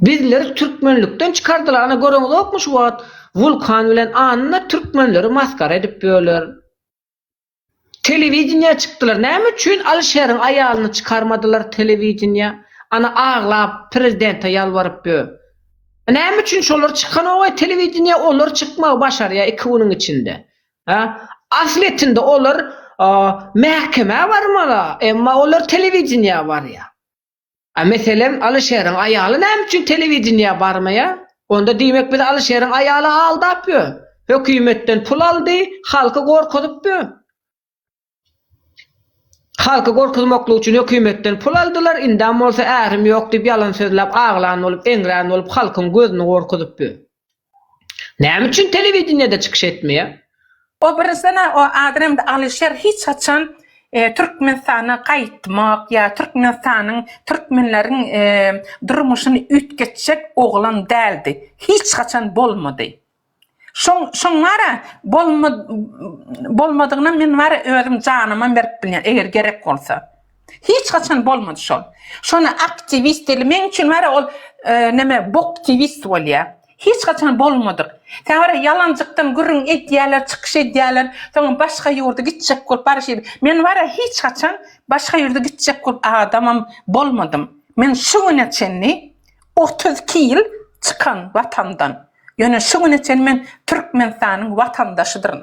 Bizleri türkmenlikden çykardylar ana göreňizokmy şu wagt Wulkan bilen Anna türkmenleri masgara edip ýörler. Telewideniýä çykdylar näme üçin Alişeriň aýalyny çykarmadylar telewideniýä ana aglap prezidente ýalbaryp ýör. Näme üçin şolar çykanogaý telewideniýä olar çykmagy başarýar iki günüň içinde. Hä? Asletinde olar mähkemä barmaly emma olar telewideniýä barýar. A meselem Alyşeriň aýaly näme üçin telewideniýä barmaýa? Onda diýmek biz Alyşeriň aýaly aldap ýö, hökümetden pul aldy, halky gorkuzyp ýö. Halky gorkuzmaklyk üçin hökümetden pul aldylar, indam bolsa ärim ýok diýip ýalan sözläp aglan bolup, eňrän bolup halkyň gözüni gorkuzyp ýö. Näme üçin telewideniýede çykyş etmeýär? O birisine o adrem Alişer hiç haçan Türkmenistana gaýtmak ýa Türkmenistanyň Türkmenleriň durmuşyny üýtgetjek oglan däldi. Hiç haçan bolmady. Şoň şoň wara bolma bolmadygyna men wara özüm janymam berip bilýän eger gerek bolsa. Hiç haçan bolmady şol. Şony aktiwist deli men üçin wara ol e, neme boktiwist bolýa. Hiç haçan bolmadyk. Sen wara ýalanjykdan gürrüň edýärler, çykyş edýärler, soňam başga ýurda gitjek bolup barşy. Men wara hiç haçan başga ýurda gitjek bolup adamam bolmadym. Men şu güne çenli 32 ýyl çykan watandan. Ýöne şu güne çenli men Türkmenistanyň watandaşydyryn.